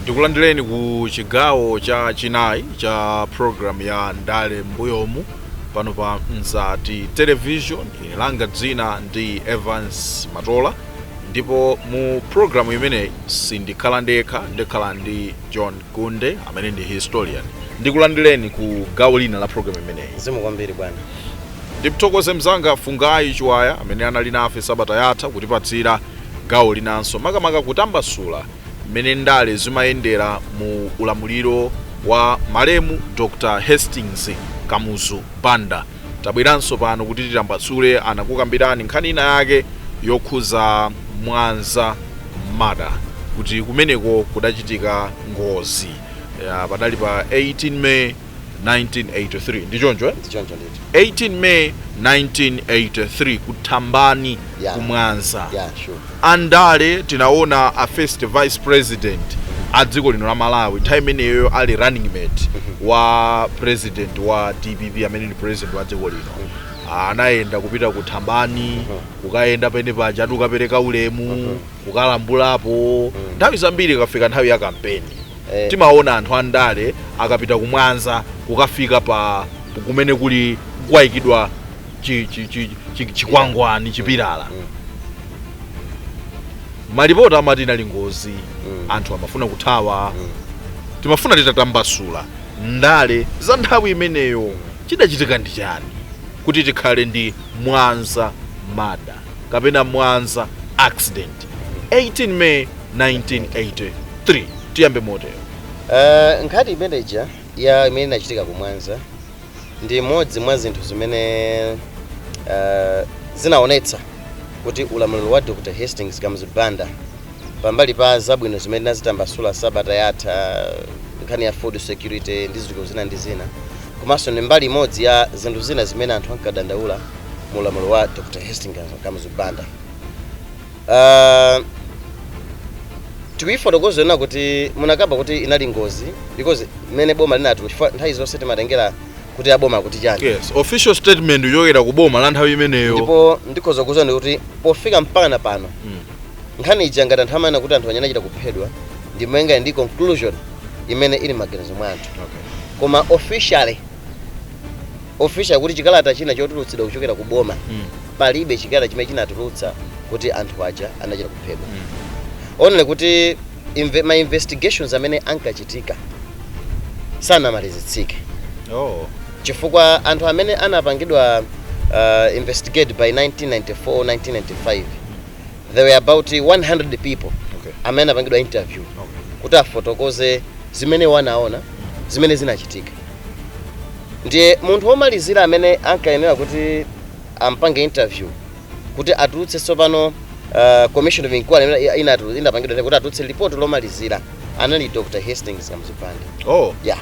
tikulandireni ku chigawo cha chinayi cha program ya ndale mbuyomu pano pa mzati television langa dzina ndi evans matola ndipo mu programu imeneyi sindikhala ndekha ndikhala ndi john gunde amene ndi historian ndikulandireni ku gawo lina la programu imeneyi zikomo kwambiri bwana ndimthokoze mzanga fungai chiwaya amene anali nafe sabata yatha kutipatsira gawo linanso makamaka kutambasula mmene ndale zimayendera mu ulamuliro wa malemu dr hastings kamuzu banda Tabweranso pano kuti titambasule ndi kukambirana nkhani ina yake yokhuza Mwanza murder kuti kumeneko kudachitika ngozi padali pa 18 May 1983 ndi choncho eh? Ndichoncho ndithu. 18 May 1983 ku Thambani Yeah. ku Mwanza Yeah, sure. a ndale tinaona a first vice president a dziko lino la Malawi nthawi imeneyo ali running mate wa president wa dpp amene ndi president wa dziko lino Ah, anayenda kupita ku thambani kukayenda pamene paja ati kukapereka ulemu kukalambulapo nthawi zambiri ikafika nthawi ya kampeni Eh. timaona anthu andale akapita kumwanza kukafika kumene kuli kwayikidwa chi- chi- chi- chi- chikwangwani chipilala Mm. malipoti amati inali ngozi Mm. anthu amafuna kuthawa Mm. timafuna titatambasula ndale za nthawi imeneyo chidachitika ndi chani kuti tikhale ndi mwanza murder kapena mwanza accident 18 may 1983 tiyambe motero Eh, nkhani imeneja ya imene inachitika kumwanza ndi imodzi mwa zinthu zimene uh, zinaonetsa kuti ulamuliro wa Dr. Hastings Kamuzu Banda pambali pa zabwino zimene tinazitambasula sabata yatha nkhani ya food security ndi zinthu zina ndi zina komanso ndi mbali imodzi ya zinthu zina zimene anthu ankadandaula mu ulamuliro wa Dr. Hastings Kamuzu Banda Uh, tikuifotokoza nena kuti munakamba kuti inali ngozi because mmene boma linati chifukwa nthawi zonse timatengera kuti aboma akuti chani yes official statement yochokera ku boma la nthawi imeneyo ndipo ndikhoza kuuzani kuti pofika mpakana pano Mm. nkhani ija ngati anthu amanena kuti anthu anayi anachita kuphedwa ndi malinga ndi conclusion imene ili m'maganizo mwa anthu okay. koma officially official kuti chikalata china chotulutsidwa kuchokera ku boma mm. palibe chikalata chimene chinatulutsa kuti anthu aja anachita kuphedwa mm. only kuti inve, ma investigations amene ankachitika sanamalizitsike oh. chifukwa anthu amene anapangidwa uh, investigate by 1994 1995 there were about 100 people okay. amene anapangidwa interview okay. kuti afotokoze zimene anaona zimene zinachitika ndiye munthu womalizira amene ankayenera kuti ampange interview kuti atulutse tsopano uh, commission of inquiry imene i- inatu- inapangidwa ndi kuti atulutse report lomalizira anali dr hastings kamuzu banda oh yeah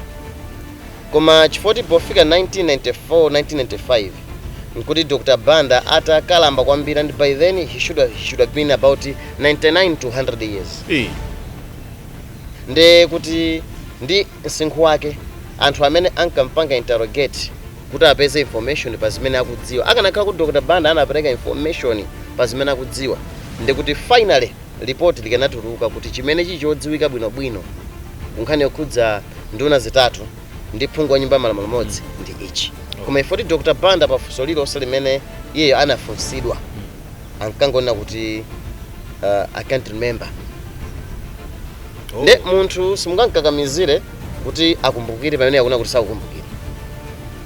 koma chifoti pofika 1994 1995 nkuti dr banda atakalamba kwambiri and by then he should have, he should have been about 99 to 100 years eh nde kuti ndi msinkhu wake, anthu amene ankampanga interrogate kuti apeze information pa zimene akudziwa. Akanakhala kuti Dr Banda anapereka information pa zimene akudziwa, ndekuti finally report likanatuluka kuti chimene chili chodziwika bwino bwino ku nkhani yokhudza nduna zitatu ndi phungu wa nyumba ya malamulo mmodzi ndi ichi. Koma ifoti Dr Banda pa funso lililonse limene iyeyo anafunsidwa, ankangonena kuti uh, i can't remember Oh. nde munthu simungamkakamizire kuti akumbukire pamene akunena kuti sakukumbukire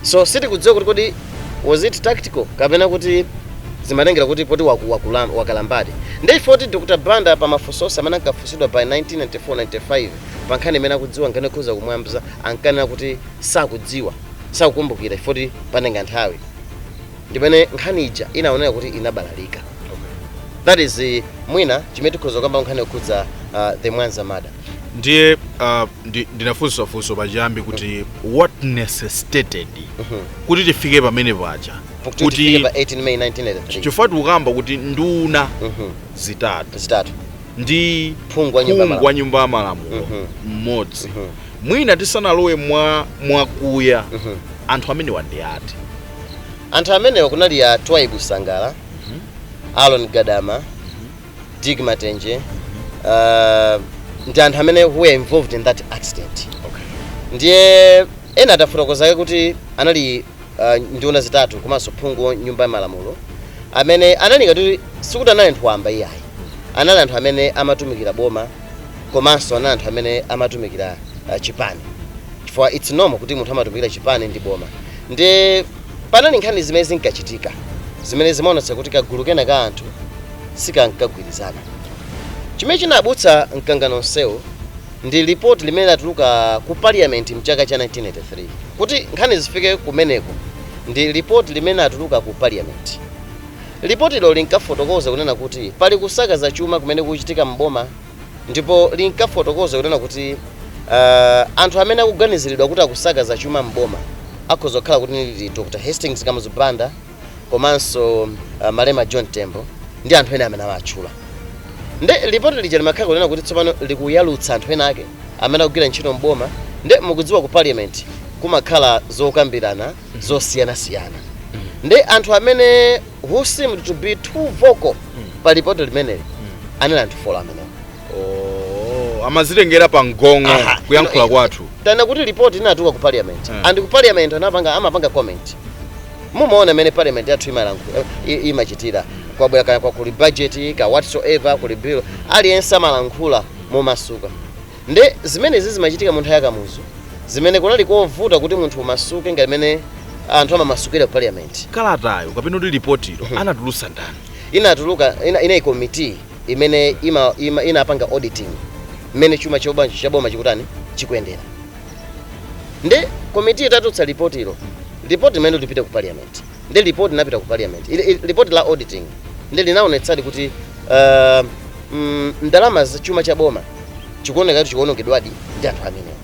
so sitikudziwa kuti kodi was it tactical kapena kuti zimatengera kuti poti waku- wakulam- wakalambadi nde ifoti dr banda pa mafunso onse amene ankafunsidwa by 1994-95 pa nkhani imene akudziwa nkhani yokhuza ku mwanza ankanena kuti sakudziwa sakukumbukira ifoti panenga nthawi ndimene nkhani ija inaonera kuti inabalalika that is mwina chimene tikhoza kukamba nkhani yokhudza uh, the mwanza murder ndiye uh, ndi, ndinafunsa funso pachiyambi kuti what necessitated kuti tifike pamene paja kuti tifike pa 18 may 1983 chifukwa tikukamba kuti nduna Mhm. zitatu zitatu ndi Phungu wa nyumba ya phungu wa nyumba ya malamulo Mhm. mmodzi Mhm. mwina tisanalowe mwa mwakuya Mhm. anthu amenewa ndi ati anthu amenewa kunali a twaibu sangala aaron gadama dick matenje uh, ndi anthu amene who were involved in that accident ndiye ena atafotokozake kuti anali uh, nduna zitatu komanso phungu wa nyumba ya malamulo amene anali ngati sikuti anali anthu wamba iyayi anali anthu amene amatumikira boma komanso anali anthu amene amatumikira uh, chipani chifukwa it's normal kuti munthu amatumikira chipani ndi boma ndi panali nkhani zimene zinkachitika zimene zimaonetsa kuti kagulu kena ka anthu sikankagwirizana chimene chinabutsa mkangano onsewo ndi lipoti limene latuluka ku parliament mchaka cha 1983 kuti nkhani zifike kumeneko ndi lipoti limene latuluka ku parliament Lipotilo linkafotokoza kunena kuti pali kusakaza chuma kumene kukuchitika m'boma ndipo linkafotokoza kunena kuti anthu amene akuganiziridwa kuti akusakaza chuma m'boma akhoza kukhala kuti ndi Dr Hastings Kamuzu Banda komanso malemu John Tembo ndi anthu ena amene awatchula. Nde lipoti lija limakhala kunena kuti tsopano likuyalutsa anthu ena ake amene akugwira ntchito m'boma nde mukudziwa ku Parliament kumakhala zokambirana, zosiyanasiyana ndi anthu amene who seemed to be too vocal pa lipoti limeneli anali anthu folo amenewo Oh, amazitengera pa mgong'o. Aha, kuyankhula ino- kwathu tana kuti lipoti inatuka ku parliament Mm. and ku parliament anapanga amapanga comment mumaona mmene parliament yathu imalankhula i- imachitira kwabwera kana kwa kuli budget ka whatsoever kuli bill aliyense amalankhula momasuka Nde zimenezi zimachitika munthawi ya Kamuzu zimene kunali kovuta kuti munthu umasuke ngati mmene anthu amamasukira ku parliament. Kalatayo kapena kuti lipotilo anatulutsa ndani? Inatuluka, ina, inali committee imene ima, ima, inapanga auditing mmene chuma choba, cha boma chikutani, chikuyendera. Nde committee itatulutsa lipotilo, lipoti limenelo lipita ku parliament. Ndiye report linapita ku parliament. Ili, ili, report la auditing ndiye linaonetsadi kuti uh, mm, ndalama za chuma cha boma chikuoneka kuti chikuonongedwadi ndi anthu amenewa.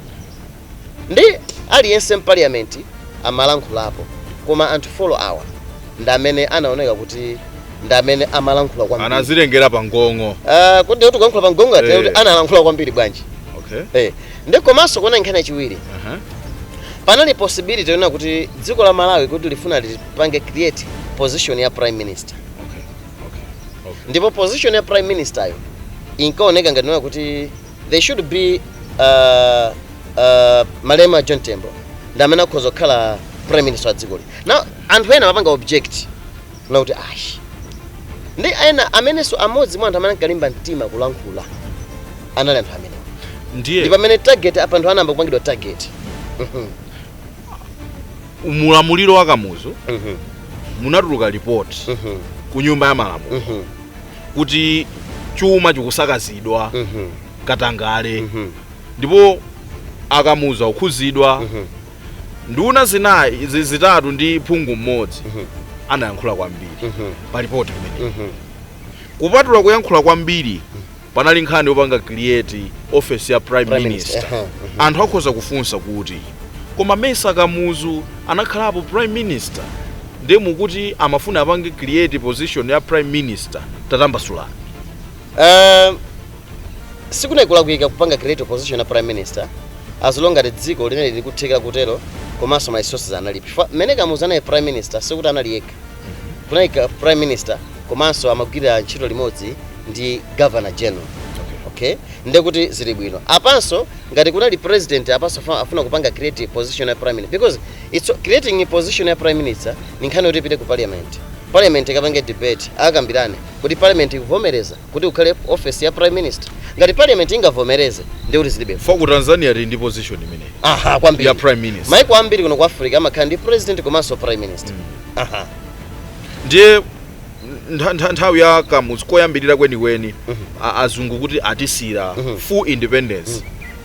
Ndi aliyense mparliament amalankhulapo koma anthu folo awa ndi amene anaoneka kuti ndi amene amalankhula kwambiri. anazitengera pa mgong'o Uh, kodi kuti kuyankhula pa mgong'o ati Eh. kuti analankhula kwambiri bwanji? okay Eh, ndi komanso kuona nkhani yachiwiri panali possibility yonena kuti dziko la malawi kuti lifuna lipange create position ya prime minister Okay. Okay. Okay. ndipo position ya prime minister yo inkaoneka ngati kunena kuti they should be uh, uh, malemu john tembo ndi amene akhoza kukhala prime minister wa dzikoli now anthu ena amapanga object Kunena kuti, Ayi. Ndi ena amenenso, amodzi mwa anthu amene ankalimba mtima kulankhula anali anthu amenewa. Ndiye. Ndi pamene target apa anthu anayamba kupangidwa target. Mhm. Mu ulamuliro wa Kamuzu Mhm. munatuluka report Mhm. ku nyumba ya malamulo Mhm. kuti chuma chikusakazidwa Mhm. katangale Mhm. ndipo akamuzu akukhuzidwa Mhm. nduna zinayi zi- zitatu ndi phungu mmodzi anayankhula kwambiri pa ripoti limeneli kupatula kuyankhula kwambiri panali nkhani yopanga create office ya prime, Prime minister, minister. Aha, aha. anthu akhoza kufunsa kuti koma mesa kamuzu anakhalapo prime minister ndiye mukuti amafuna apange create position ya prime minister tatambasulani Eh, sikunali kulakwika kupanga create position ya prime minister as long as dziko linali likuthekera kutero komanso ma resources analipo chifukwa mmene kamuzu anali prime minister sikuti anali yekha kunali ka- prime minister komanso amagwirira ntchito limodzi ndi governor general okay ndekuti zili bwino apanso ngati kunali president apanso afa- afuna kupanga create position ya prime minister because it's creating a position ya prime minister ni nkhani yoti ipite ku parliament parliament ikapange debate akambirane kuti parliament ikuvomereza kuti kukhale office ya prime minister ngati parliament ingavomereze ndiye kuti zilibe vuto. ku tanzania tili ndi position imeneyi aha kwambiri ya prime minister maiko ambiri kuno ku africa amakhala ndi president komanso prime minister aha ndiye ntha- ntha- nthawi ya kamuzu koyambirira kwenikweni a- azungu kuti atisiyire full independence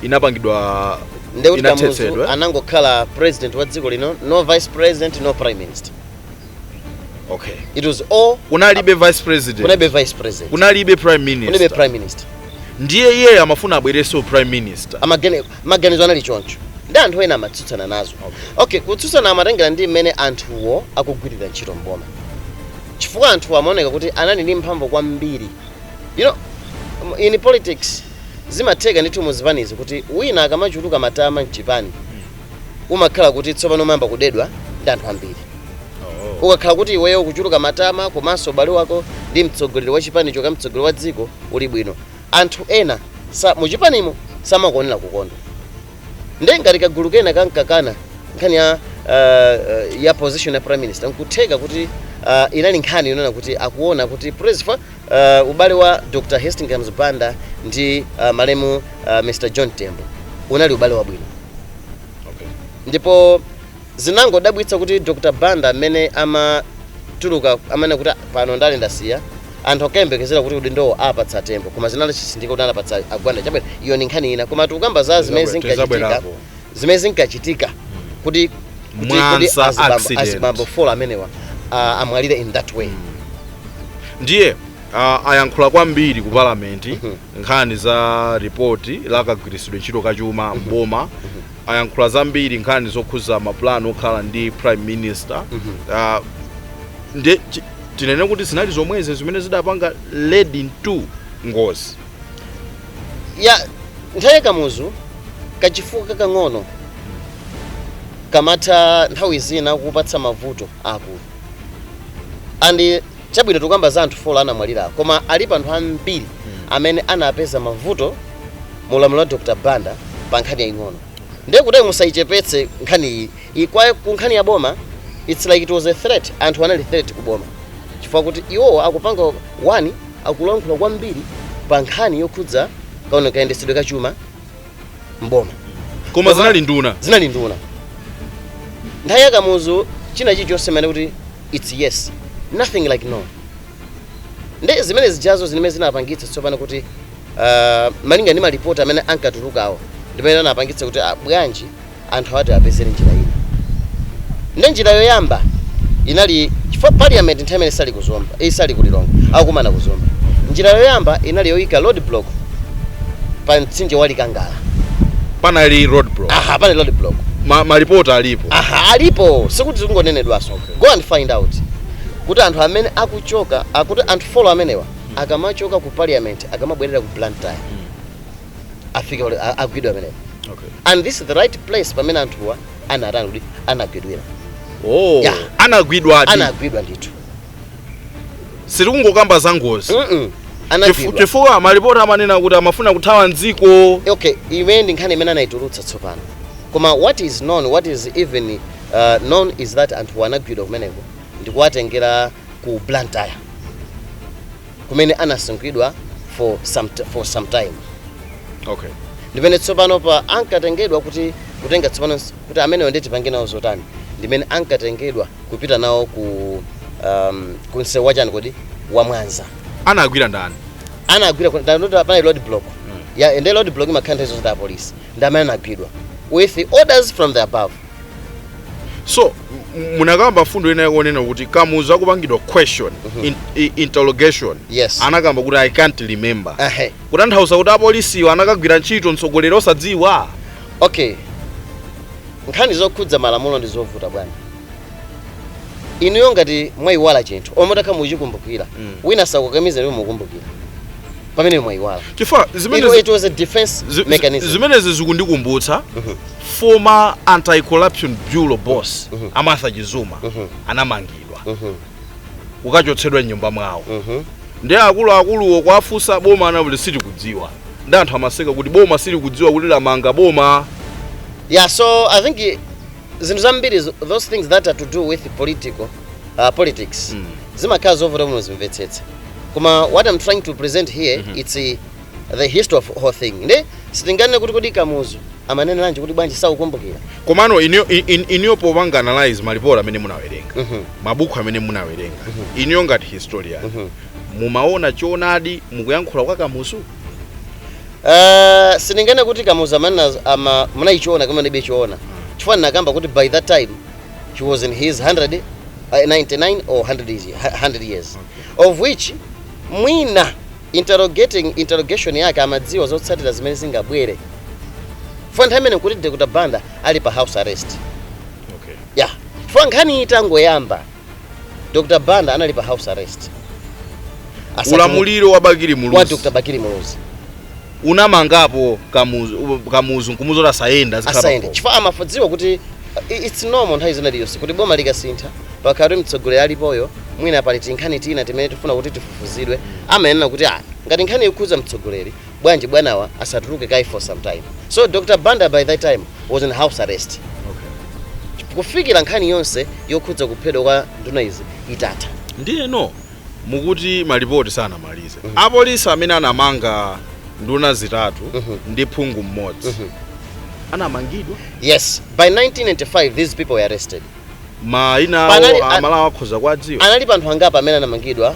inapangidwa ndekuti kamuzu inathetsedwa anangokhala president wa dziko lino no vice president no prime minister okay it was all kunalibe vice president kunalibe vice president kunalibe prime minister kunalibe prime minister ndiye iye amafuna abwereso prime minister amagene maganizo anali choncho ndi anthu ena amatsutsana nazo okay kutsutsana amatengera ndi mmene anthuwo akugwirira ntchito mboma chifukwa anthu amaoneka kuti anali ndi mphamvu kwambiri you know in politics zimatheka ndithu muzipanizi kuti wina akamachuluka matama mchipani umakhala kuti tsopano umayamba kudedwa ndi anthu ambiri ukakhala kuti iweyo ukuchuluka matama komanso ubale wako ndi mtsogoleri wa chipanicho ka mtsogoleri wa dziko uli bwino anthu ena sa, mu chipanimo samakuonera kukondwa nde ngati kagulu kena kankakana nkhani ya uh, ya position ya prime minister nkutheka kuti uh, inali nkhani yonena kuti akuona kuti president Uh, ubale wa Dr. Hastings Kamuzu Banda ndi uh, malemu uh, Mr. John Tembo unali ubale wabwino okay. ndipo zinangodabwitsa kuti Dr. Banda mmene amatuluka amanena kuti pano ndale ndasiya anthu akayembekezera kuti udindowo apatsa a Tembo koma zinali chisindika kuti anapatsa a Gwanda chabwino iyo ni nkhani ina koma tikukamba za zimene Tizabwe- zinkachitika tizabwerako. zimene zinkachitika kuti kuti- kuti Mwanza azibambo- accident. azibambo folo amenewa ah, amwalire in that way ndiye uh, ayankhula kwambiri ku palamenti nkhani za ripoti la kagwiritsidwe ntchito ka chuma mboma ayankhula zambiri nkhani zokhuza mapulani okhala ndi prime minister uh, nde chi- tinene kuti zinali zomwezi zimene zidapanga lead into ngozi ya nthawi ya kamuzu kachifukwa kakang'ono kamatha nthawi zina kupatsa mavuto akulu and chabwino tikukamba za anthu folo anamwalira koma alipo anthu ambiri amene anapeza mavuto mu ulamuliro wa dr banda pa nkhani yaying'ono ndiye kuti musayichepetse nkhani iyi Iyi kwa ku nkhani ya boma its like it was a threat anthu anali threat ku boma chifukwa kuti iwowo akupanga one akulankhula kwambiri pa nkhani yokhudza kaona kayendetsedwe ka chuma m'boma koma zinali nduna zinali nduna nthawi ya kamuzu china chilichonse mene kuti its yes nothing like no nde zimene zijazo zimene zinapangitsa tsopano kuti uh, malinga ndi malipoti amene ankatulukawo ndimene anapangitsa kuti ah, bwanji anthu ati apezere njira ina nde njira yoyamba inali chifukwa parliament nthawi imene isali kuzomba eh, isali kulilongwe akukumana kuzomba njira yoyamba inali yoyika road block pa mtsinje wa likangala panali road block aha panali road block Ma, malipoti alipo aha alipo sikuti zikungonenedwaso okay. go and find out kuti anthu amene akuchoka kuti anthu folo amenewa akamachoka ku parliament akamabwerera ku blantyre afike pale- a- agwidwe amenewa Okay. and this is the right place pamene anthuwa anatani kuti anagwidwira Oh, Yeah. anagwidwa ati. anagwidwa ndithu Sitikungokamba za ngozi. Mm-mm. Chifu- anagwidwa Chifukwa malipoti amanena kuti amafuna kuthawa mdziko. okay imene ndi nkhani imene anayitulutsa tsopano koma what is known what is even uh, known is that anthuwa anagwidwa kumeneko ndikuwatengera ku blantyre kumene anasungidwa for some, t- for some time okay ndimene tsopano pa ankatengedwa kuti kutenga tsopano s- kuti amenewa nde tipange nawo zotani ndimene ankatengedwa kupita nawo ku um, ku msewu wachani kodi wa mwanza anagwira ndani anagwira ku- nda- nda- panali road block ya nde road block imakhala nthawi zonse ndi apolisi ndi amene anagwidwa with orders from the above so munakamba mfundo ina yakunena kuti kamuzu akupangidwa question mm -hmm. in, in, interrogation yes. anakamba kuti i can't remember uh -huh. kutanthauza kuti apolisiwo anakagwira ntchito mtsogoleri osadziwa okay nkhani zokhudza malamulo ndi zovuta bwana inuyo ngati mwayiwala chinthu olo mutakha muchikumbukira mm. wina sakukamiza ndiye mukumbukira pamene mwayiwala chifukwa it, zimenezi it was a defense zi- zi- mechanism zimenezi zikundikumbutsa former anti corruption bureau boss a martha chizuma anamangidwa kukachotsedwa mnyumba mwawo ndi akuluakuluwo kuwafunsa boma anauze silikudziwa ndi anthu amaseka kuti boma silikudziwa kuti lamanga boma yeah so i think zinthu zambiri zo- those things that are to do with political uh, politics Mm. zimakhala zovuta kuti muzimvetsetsa koma what i'm trying to present here it's uh, the history of whole thing nde sitinganene kuti kodi Kamuzu amaneneranji kuti bwanji sakukumbukira komano iniyo in- in- iniyo popanga analyze malipoti amene munawerenga Mhm. mabuku amene munawerenga iniyo ngati historian Mhm. mumaona choonadi mukuyankhula kwa kamuzu Uh, sindinganene kuti Kamuzu amanena ama muna choona kapena mulibe choona chifukwa nakamba kuti by that time he was in his 100 uh, 99 or 100 years, 100 years of which mwina interrogating interrogation yake amadziwa zotsatira zimene zingabwere chifukwa nthawi imeneyo nkuti Dr. Banda ali pa house arrest Okay. ya chifukwa nkhani itangoyamba Dr. Banda anali pa house arrest. Asati- ulamuliro wa Bakili wa Muluzi Dr. Bakili Muluzi unamangapo Kamuzu u- Kamuzu nkumuuza kuti asayende azikhala asayende pakhomo. chifukwa amafodziwa kuti uh, i- it's normal nthawi zina liyonse kuti boma likasintha pakakhala kuti mtsogoleri alipoyo mwina pali tinkhani tina timene tifuna kuti tifufuzidwe amanena kuti ah ngati nkhani ikukhudza mtsogoleri bwanji bwanawa asatuluke kaye for some time so Dr. Banda by that time was in house arrest kufikira nkhani yonse yokhudza kuphedwa kwa nduna izi itatha ndiyeno mukuti malipoti sanamalize apolisi amene anamanga nduna zitatu ndi phungu mmodzi anamangidwa yes by 1995 these people were arrested mayina awo Panali- a- aMalawi akhoza kuwadziwa analipo anthu angapo amene anamangidwa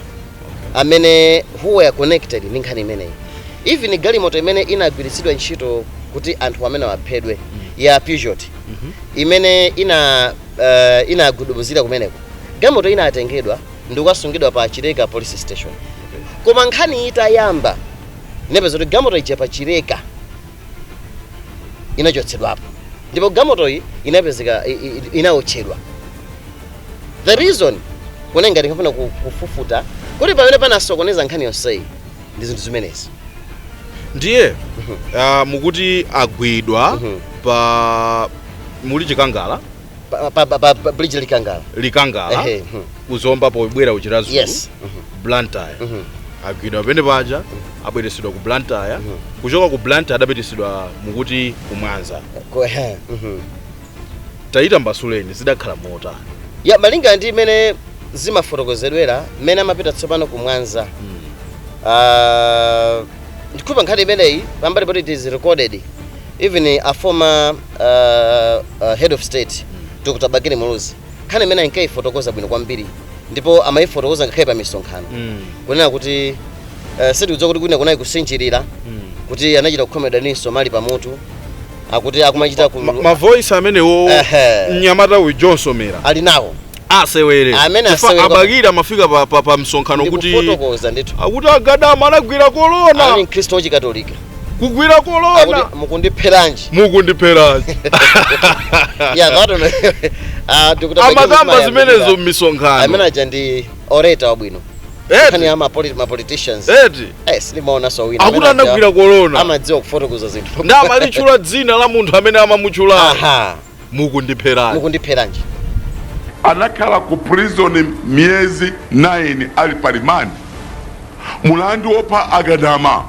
amene who were connected ndi nkhani imeneyi even galimoto imene inagwiritsidwa ntchito kuti anthu amenewa aphedwe ya Peugeot imene ina uh, inagudubuzira kumeneko galimoto inatengedwa ndi kukasungidwa pa Chileka police station koma nkhani itayamba anapeza kuti galimoto ija pa Chileka inachotsedwapo ndipo galimotoyi inapezeka i- i- i- inaotchedwa the reason kuona ngati ankafuna ku- kufufuta kuti pamene panasokoneza nkhani yonseyi ndi zinthu zimenezi ndiye ah, mukuti agwidwa pa mlatho wa Likangala Pa- pa- pa- pa- pa- bridge Likangala Likangala Ehe, mhm. ku Zomba pobwera ku Chiradzulu Yes. Mhm. Blantyre Mhm. agwidwa pamene paja abweretsedwa ku Blantyre kuchoka ku Blantyre adapititsidwa mukuti ku Mwanza Ko- ehe, mhm. taitambasuleni zidakhala motani ya malinga ndi mmene zimafotokozedwera mmene amapita tsopano ku Mwanza Ah, ndikupa nkhani imeneyi pambali poti it is recorded even a former uh, uh, head of state dr bakili muluzi nkhani imene ankayifotokoza bwino kwambiri ndipo amayifotokoza ngakhale pa misonkhano Mm. kunena kuti uh, sitikudziwa kuti kwina kunali kusinjirira Mm. kuti anachita kukhomedwa ndi msomali pamutu akuti akumachita ku Ma- mavoice amenewo Ehe. mnyamata uyu john somera ali nawo asewere Amene Chifukwa asewere kwa- a bakili amafika pa, pa, pa msonkhano kufotokoza ndithu akuti agadama anagwira ali korona mkhristu wachikatolika kugwira akuti korona mukundipheranji mukundipherani yeah that one ah dr amakamba zimenezo amene mmisonkhano aja ndi orator wabwino nkhani ya eti ma polit- ma politicians eti eh silimaona so wina akuti anagwira korona amadziwa kufotokoza zinthu ndipo amalitchula dzina la munthu amene amamutchulayo aha mukundipheranji mukundipheranji anakhala ku prison miyezi 9 ali pa remand mulandu wopha agadama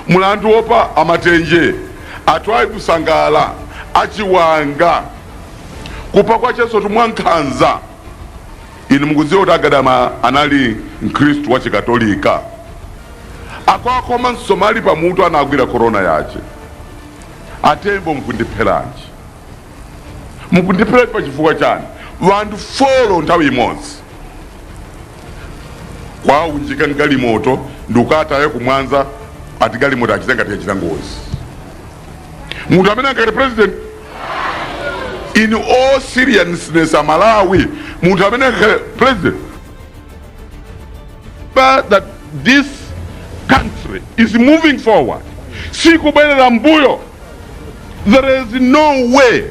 mulandu wopha amatenje a twaibu sangala achiwanga kupha kwakensotu mwankhanza inu mukudziwa kuti agadama anali mkhristu wa chikatolika akuwakhoma msomali pamutu anagwira korona yace a tembo mukundipheranji? mukundipheranji pa chifukwa chani? wanthu four nthawi imodzi kuwaunjika mgalimoto ndikukataya ku mwanza ati galimoto achita ngati yachita ngozi munthu amene angakhale president in all seriousness a malawi munthu amene angakhale president But that this country is moving forward sikubwerera mbuyo there is no way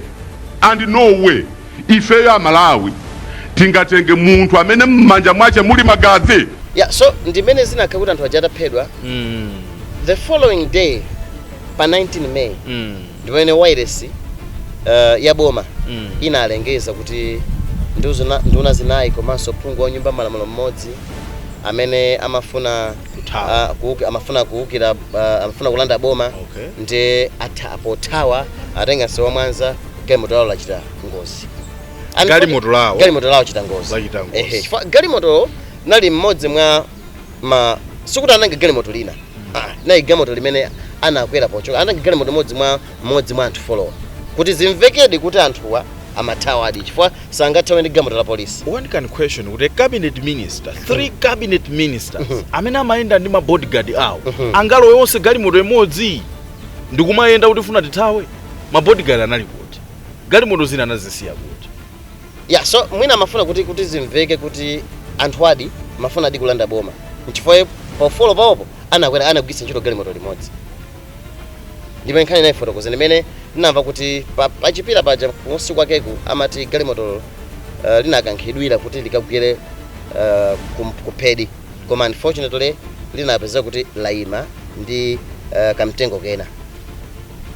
and no way ifeyo amalawi tingatenge munthu amene m'manja mwace muli magazi yeah, so ndimene zinakhala kuti anthu aja ataphedwa mm. the following day pa 19 may mm. ndipomwe wailesi uh, ya boma mm. inalengeza kuti nduna, nduna zinayi komanso phungu wa nyumba ya malamulo mmodzi amene amafuna uh, kuuki, amafuna kuukira uh, amafuna kulanda boma okay. ndiye pothawa atenga msewu wa Mwanza galimoto lawo lachita ngozi galimoto lawo galimoto lawo chita ngozi ehe galimotolo linali mmodzi mwa ma sikuti anatenga galimoto lina ah, nayi galimoto limene anakwera pochoka anatenga galimoto modzi mwa modzi mwa anthu four-wa kuti zimvekedi kuti anthuwa amathawadi chifukwa sangathawe ndi galimoto la polisi one can question kuti a cabinet minister three cabinet ministers amene amayenda ndi mabodyguard awo angalowe onse galimoto imodzi ndikumayenda kuti funa tithawe mabodyguard anali kuti galimoto zina anazisiya kuti Yeah, so mwina amafuna kuti kuti zimveke kuti anthuwadi amafunadi kulanda boma nchifukwa pa ufolo pawopo anakwera anagwiritsa ntchito galimoto limodzi ndipo nkhani ndinayifotokoza ndi mmene ndinamva kuti pa- pachipira paja kunsi kwakeku amati galimotolo uh, linakankhidwira kuti likagwire uh, kum- kuphedi koma unfortunately linapezeka kuti laima ndi uh, kamtengo kena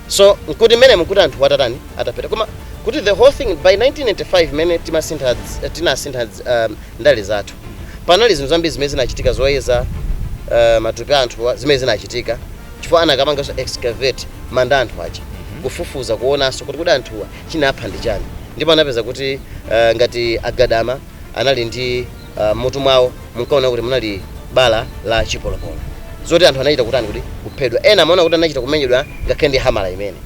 so nkuti mmenemu nkuti anthuwa atatani atapita koma kuti the whole thing by 1995 mmene timasintha dz- tinasintha dz- um, ndale zathu panali zinthu zambiri zimene zinachitika zoyeza uh, matupi a anthuwa zimene zinachitika chifukwa anakapanganso excavate manda a anthu aja kufufuza kuonanso kuti kuti anthuwa chinapha ndi chani ndipo anapeza kuti uh, ngati a Gadama anali ndi ah, m'mutu mwawo munkaona kuti munali bala la chipolopolo zoti anthu anachita kutani kuti kuphedwa ena amaona kuti anachita kumenyedwa ngakhale ndi hamala imene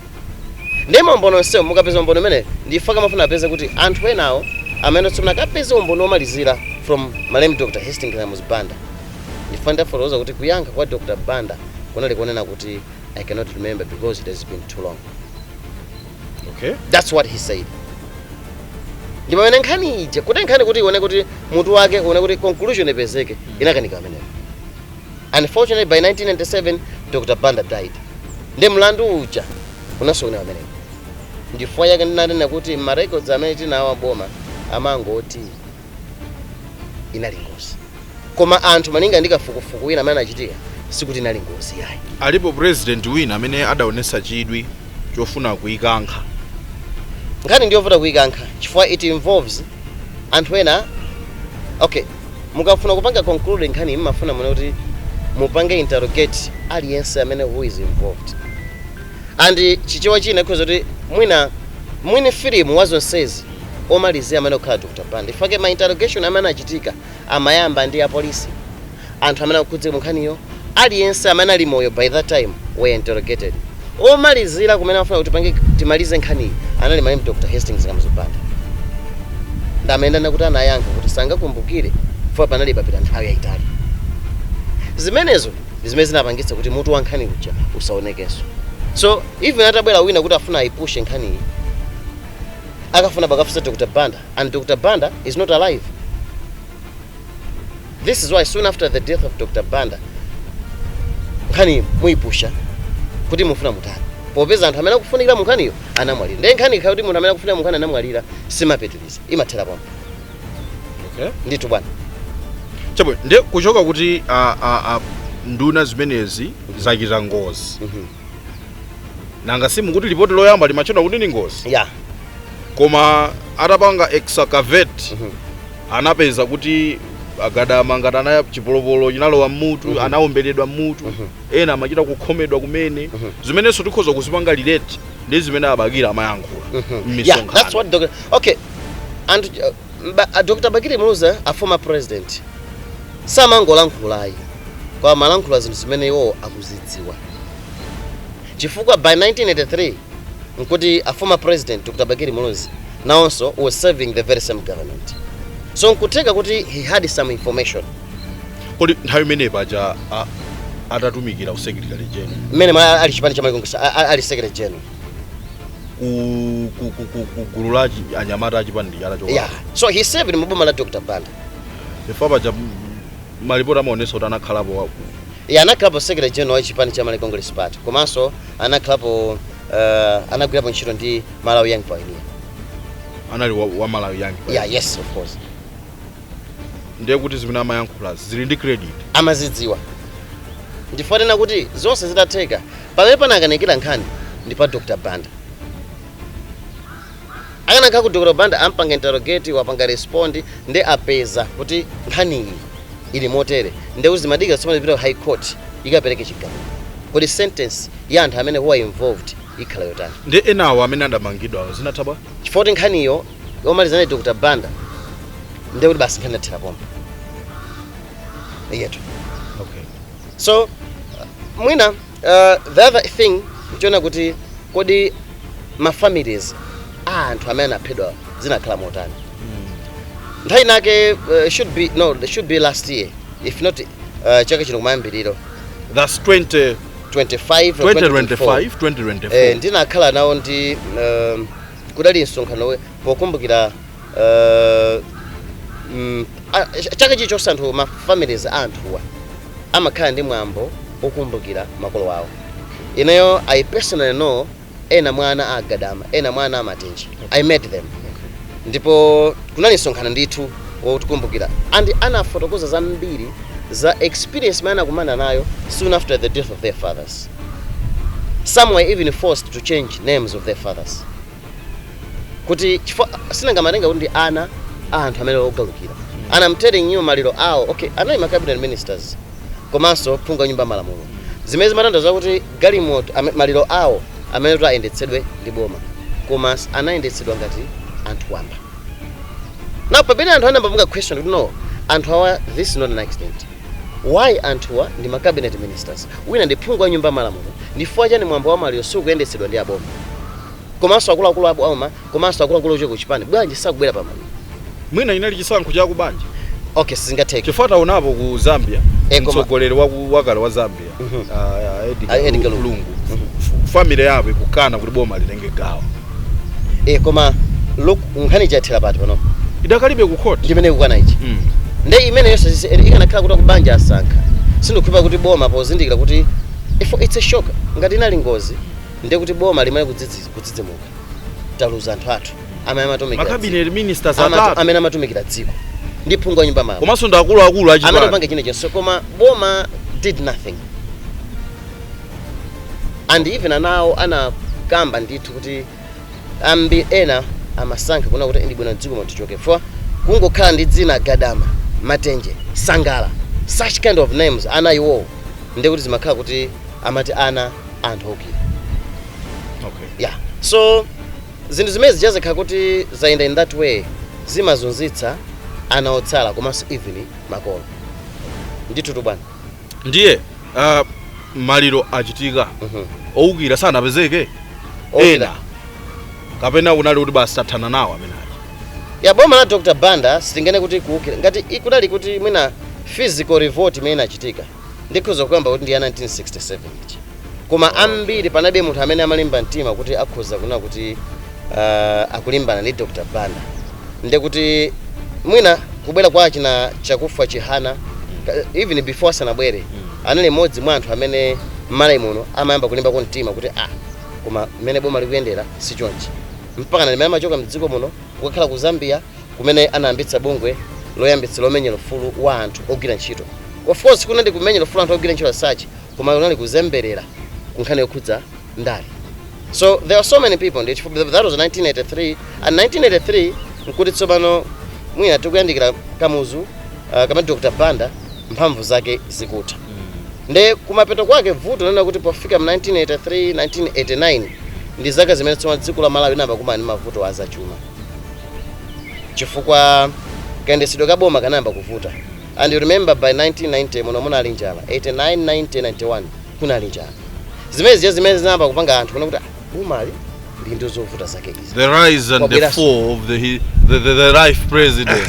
ndi maumboni onsewo mukapeza umboni umene nchifukwa chake amafuna apeze kuti anthu enawo amene tsopano akapeze umboni womalizira from malemu dr hastings kamuzu banda nchifukwa ndafotokoza kuti kuyankha kwa dr banda kunali kunena kuti i cannot remember because it has been too long okay that's what he said ndi pamene nkhani ija kuti nkhani kuti ioneke kuti mutu wake uoneke kuti conclusion ipezeke inakanika kumeneko unfortunately by 1997 dr banda died ndi mlandu uja unasokonekera kumeneko ndichifukwa chake ndinanena kuti ma records amene tinawo aboma amangoti inali ngozi koma anthu malinga ndi kafukufuku wina amene anachitika sikuti inali ngozi yayi alipo president wina amene adaonesa chidwi chofuna kuikankha nkhani ndiyovuta kuikankha chifukwa it involves anthu ena okay mukafuna kupanga conclude nkhani mumafuna muone kuti mupange interrogate aliyense amene who is involved and chichewa china ikhoza kuti mwina mwini filimu wa zonsezi omalizira amayenera kukhala Dr Banda chifukwa chake ma interrogation amene anachitika amayamba ndi apolisi anthu amene akukhudzika mu nkhaniyo aliyense amene ali moyo by that time were interrogated omalizira kumene amafuna kuti apange timalize nkhaniyi anali malemu Dr Hastings Kamuzu Banda ndi amene ndanena kuti anayankha kuti sangakumbukire chifukwa panali patapita nthawi yayitali zimenezo ndi zimene zinapangitsa kuti mutu wa nkhani uja usaonekenso so even atabwera wina kuti afuna ayipushe nkhaniyi akafunabe akafunse dr banda and dr banda is not alive this is why soon after the death of dr banda nkhani muyipusha kuti mufuna mutani popeza anthu amene akufunikira munkhaniyo anamwalira ndiye nkhani ikakhala kuti munthu amene akufunikira munkhani anamwalira simapitiriza imathera pompo okay. ndithu bwana chabwino nde kuchoka kuti a, a, a, nduna zimenezi zachita ngozi Mhm. nanga simukuti lipoti loyamba limatchula kuti ndi ngozi yeah koma atapanga excavate Mhm. anapeza kuti agadama ngati anaya chipolopolo chinalowa mmutu anaomberedwa mmutu ena amachita kukhomedwa kumene zimenenso tikhoza kuzipanga relate ndi zimene a Bakili amayankhula yeah, that's mmisonkhano what doc- okay anthu uh, Ba, a Dr. Bakili Muluzi a former president samangolankhula ayi koma amalankhula zinthu zimene iwowo akuzidziwa chifukwa by 1983 nkuti a former president Dr. Bakili Muluzi nawonso was serving the very same government so nkutheka kuti he had some information kodi nthawi imene paja a- atatumikira ku secretary general mmene mwa ali chipani cha Malawi Congress a- a- ali secretary general ku ku- ku- ku- ku gulu la achi- anyamata achipani chala choka yeah so he served mu boma la dr banda chifukwa paja m- malipoti amaonesa kuti anakhalapo wa- iye anakhalapo secretary general wa chipani cha malawi congress party komanso anakhalapo uh, anagwirapo ntchito ndi malawi young pioneer anali wa, wa malawi yangi yeah yes of course ndiye kuti zimene amayankhula zili ndi credit amazidziwa ndikunena kuti zonse zidatheka Pamene panakanikira nkhani ndi pa Dr Banda. Akanakhala kuti Dr Banda ampanga interrogate apanga respond nde apeza kuti nkhaniyi ili motere nde kuti zimadikira tsopano zipita ku High Court ikapereke chigamulo. Kodi sentence ya anthu amene who are involved ikhala yotani? Nde enawo amene adamangidwawo zinatha bwa? Chifukwa kuti nkhaniyo yomaliza ndi Dr Banda nde kuti basi nkhani inathera pompo. Eyetu. so uh, mwina uh, the other thing nchoona kuti kodi ma families a anthu amene anaphedwa zinakhala motani nthawi nake uh, should be no they should be last year if not uh, chaka chino kumayambiriro That's 20, 25 or 2025, 2024. Eh, 2024. ndinakhala nawo ndi um, kudali msonkhano we- pokumbukira Eh, mm, a- ch- chaka chilichonse anthu ma families a anthuwa amakhala ndi mwambo wokumbukira makolo awo ineyo i personally know ena mwa ana a a Gadama ena mwa ana a Matenje i met them ndipo kunali msonkhano ndithu wokumbukira and anafotokoza zambiri za experience imene anakumana nayo soon after the death of their fathers some were even forced to change names of their fathers kuti chifukwa sinanga amatenga kuti ndi ana a anthu amene ogalukira and I'm telling you maliro awo okay anali ma cabinet ministers komanso phungu wa nyumba ya malamulo zimene zimatanthauza kuti galimoto ame- maliro awo amayenera kuti ayendetsedwe ndi boma koma s- anayendetsedwa ngati anthu wamba now pamene anthu anayamba kupanga question kuti no anthu awa this is not an accident Why anthuwa ndi ma cabinet ministers? Wina ndi phungu wa nyumba ya malamulo. Ndifukwa chani mwambo wa maliro sukuyendetsedwa ndi aboma? Komanso akuluakulu aboma komanso akuluakulu ochokera ku chipani bwanji sakubwera pa maliro? Mwina inali chisankho cha ku banja. Okay sizingatheke. Chifukwa taonapo ku Zambia, mtsogoleri wakale wa Zambia. a edgar lungu family yabo ikukana kuti boma litenge gawo e koma look nkhani chathera pati pano idakalibe ku court ndimene ikukana ichi Mm. nde imeneyo sisi- eri- ikanakhala kuti akubanja asankha sindikhulupirira kuti boma pozindikira kuti if it's a shock ngati inali ngozi ndiye kuti boma limayenera kudzidzimuka taluza anthu athu amene amatumikira dziko. makabinet ministers Amatu- atatu amene amatumikira dziko ndi phungu wa nyumba malamulo komanso ndi akuluakulu amene achipani apanga chinachonse koma boma did nothing and even anawo anakamba ndithu kuti ambi ena amasankha kunena kuti ndi bwino dziko matichoke for kungokhala ndi dzina gadama matenje sangala such kind of names ana iwo ndi kuti zimakhala kuti amati ana anthu oukira Okay. yeah so Zinthu zimene zija zikakhala kuti zayenda in that way zimazunzitsa ana otsala komanso even makolo. Ndithutu bwana. Ndiye ah, maliro achitika Mhm. owukira sanapezeke Owukira. ena kapena kunali kuti basi tathana nawo amene aja ya boma la dr banda sitinganene kuti kuukira ngati i- kunali kuti mwina physical revolt imene inachitika ndikhoza kukamba kuti ndi ya 1967 ija koma oh, ambiri panalibe munthu amene amalimba mtima kuti akhoza kunena kuti uh, akulimbana ndi dr banda nde kuti mwina kubwera kwa achina chakufa chihana mm. even before asanabwere mm. anali mmodzi mwa anthu amene mMalawi muno amayamba kulimba kwa mtima kuti ah koma mmene boma likuyendera si chonchi mpaka ndi mmene amachoka mdziko muno kukakhala ku zambia kumene anayambitsa bungwe loyambitsa lomenyera ufulu wa anthu ogwira ntchito. Of course kunali kumenyera ufulu anthu ogwira ntchito as such koma kunali kuzemberera ku nkhani yokhudza ndale. So there are so many people ndi chifukwa that was 1983 and 1983 nkuti tsopano mwina tikuyandikira Kamuzu uh, kamene Dr. Banda mphamvu zake zikutha. Nde kumapeto kwake vuto linali kuti pofika mu 1983 1989 ndi zaka zimene tsopano dziko la Malawi linayamba kukumana ndi mavuto a zachuma. chifukwa kayendetsedwe ka boma kanayamba kuvuta and you remember by 1990 muno munali njala 89 90 91 kunali njala zimene zija zimene zinayamba kupanga anthu kuona kuti "Ah, bomali lili ndi zovuta zake izi The rise and the Kwabwera- fall of the, he- the, the, the life president.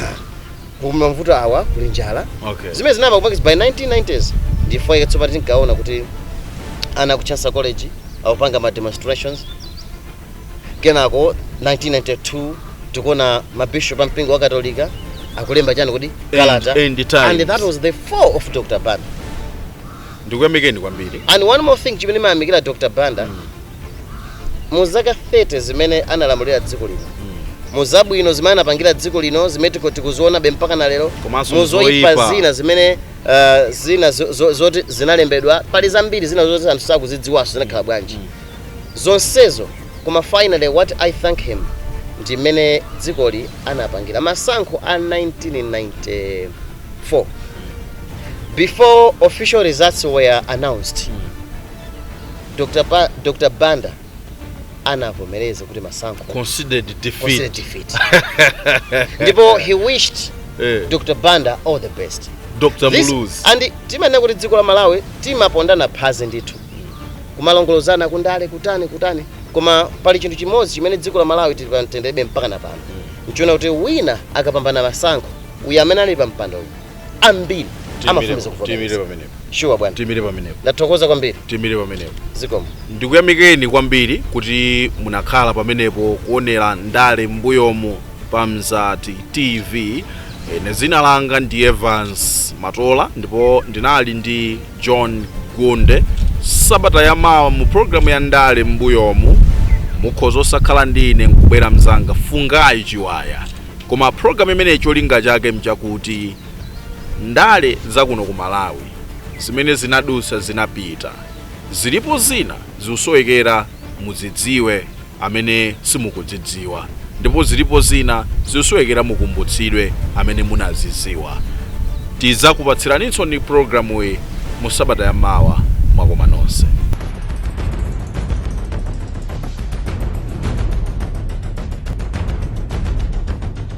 koma mavuto awa kuli njala Okay. zimene zinayamba kupanga by 1990s ndi chifukwa chake tsopano tinkaona kuti ana ku chansa college akupanga ma demonstrations Kenako 1992 tikuona mabishop a mpingo wa Katolika akulemba chani kodi kalata Lenten and that was the fall of Dr. Banda. ndikuyamikeni kwambiri And one more thing chimene ndimayamikira Dr. Banda mu zaka 30 zimene analamulira dziko lino mu zabwino zimene anapangira dziko lino zimene tiko- tikuzionabe mpaka na lero mu zoipa zina zimene uh, zina zo- zo- zoti zinalembedwa pali zambiri zina zoti anthu sakuzidziwanso zinakhala bwanji zonsezo koma finally what I thank him ndi mmene dzikoli anapangira masankho a 1994 before official results were announced Dr. Pa, Dr. Banda anavomereza kuti masankho conceded defeat ndipo he wished eh, Dr. Banda all the best Dr. Muluzi and timanena kuti dziko la Malawi timapondana phazi ndithu kumalongolozana kundale kutani kutani koma pali chinthu chimodzi chimene dziko la Malawi tili pa mtendere mpaka na pano nchonena kuti wina akapambana masankho uyu amene ali pa mpando uyu ambiri amavomereza tiimire pamenepo shuwa bwana tiimire pamenepo ndathokoza kwambiri tiimire pamenepo zikomo ndikuyamikeni kwambiri kuti munakhala pamenepo kuonera ndale m'mbuyomu pa Mzati TV ine dzina langa ndi Evans Matola ndipo ndinali ndi John Gunde. Sabata ya mawa mu programu ya ndale m'mbuyomu mukhoza osakhala ndi ine nkubwera mzanga Fungayi Chiwaya, koma programu imeneyi cholinga chake nchakuti ndale za kuno ku Malawi zimene zinadutsa zinapita, zilipo zina zikusowekera kuti muzidziwe amene simukuzidziwa ndipo zilipo zina zikusowekera mukumbutsidwe amene munazidziwa tidzakupatsiraninso programuyi mu sabata ya mawa mwakomanso nonse